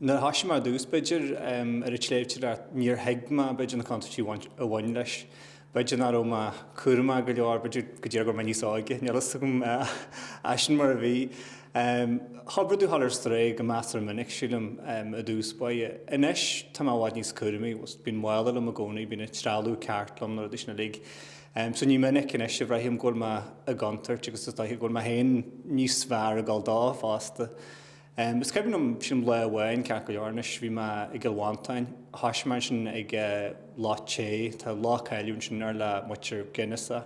Nuair a thoisigh mé ar dtús, b'fhéidir, ar an tsléibhteoireacht, níor thuig mé, b'fhéidir, na contúirtí a bhain leis. B'fhéidir nach raibh mé cúramach go leor, b'fhéidir go díreach go raibh mé níos óige, níl a fhios agam. Ach sin mar a bhí. Chomh brúidiúil a dhul ar strae go measartha minic, sílim, i dtús báire. Anois, tá mé i bhfad níos cúramaí. Bíonn mála liom i gcónaí, bíonn an trealamh ceart liom, na rudaí sin uilig. So ní minic anois a bhraithim go bhfuil mé i gcontúirt agus is dóiche go bhfuil mé féin níos fearr ag gabháil dó fosta. Is cuimhin liom sin lá amháin, ceart go leor anois, bhí mé i gCill Mhantáin, thosaigh mé ansin ag Loch Té, tá loch cáiliúil ansin ar le muintir Guinness é,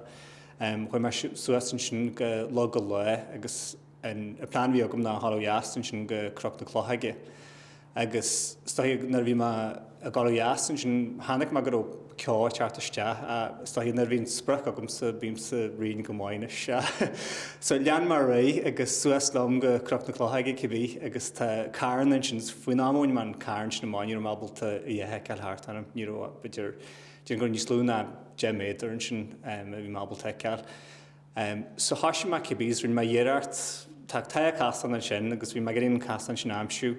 chuaigh mé suas ansin go Log an Lágh agus an plean a bhí agam ná a dhul ó dheas ansin go Cnoc na Clochóige agus is dóiche nuair a bhí mé ag dul ó dheas. Ansin chonaic mé go raibh ceo ag teacht isteach. Is dóigh nuair a bhíonn sprioc agamsa, bímse righin go maith anois. So lean mé ar aghaidh agus suas liom go Cnoc na Clochóige cibé agus tá carn ansin agus faoin am a bhain mé an carn sin amach ní raibh mé ábalta a dhath a fheiceáil thart orm. Ní raibh, b'fhéidir, déarfainn gur níos lú ná deich méadar ansin a bhí mé ábalta a fheiceáil. So thoisigh mé cibé agus rinne mé iarracht, tá, tá casán ansin agus bhí mé ag iarraidh an casán sin a aimsiú.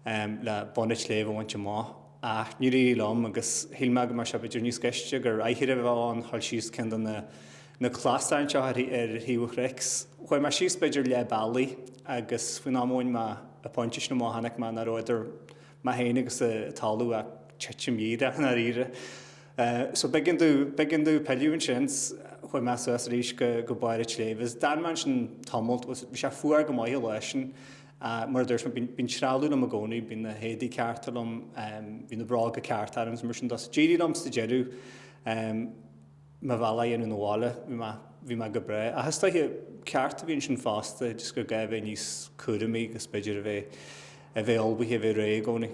le bun an tsléibhe a bhaint amach. Ach níor éirigh liom, agus shíl mé go mbeadh sé b'fhéidir níos gaiste gur aicearra a bheadh ann a dhul síos ceann de na na clasáin anseo ar thaobh an chnoic. Chuaigh mé síos b'fhéidir leath bealaigh, agus faoin am a bhain mé an pointe sin amach chonaic mé nach raibh idir mé féin agus an talamh ach titim ghéar i ndáiríre. So b'éigean domh b'éigean domh pilleadh ansin 's chuaigh mé suas arís go go barr an tsléibhe. D'fhan mé ansin tamalt, bhí sé fuar go maith an lá sin, Ach, mar a dúirt mé, bíonn trealamh liom i gcónaí, bíonn na héadaí cearta liom, bíonn na bróga cearta orm is mar sin de. So d'éirigh liom sa deireadh mo bhealach a dhéanamh na bhaile, bhí mé go breá. Ach is dóiche, ceacht a bhí ansin fosta, just gur gá a bheith níos cúramaí agus b'fhéidir a bheith, a bheith ullmhaithe, a bheith réidh i gcónaí.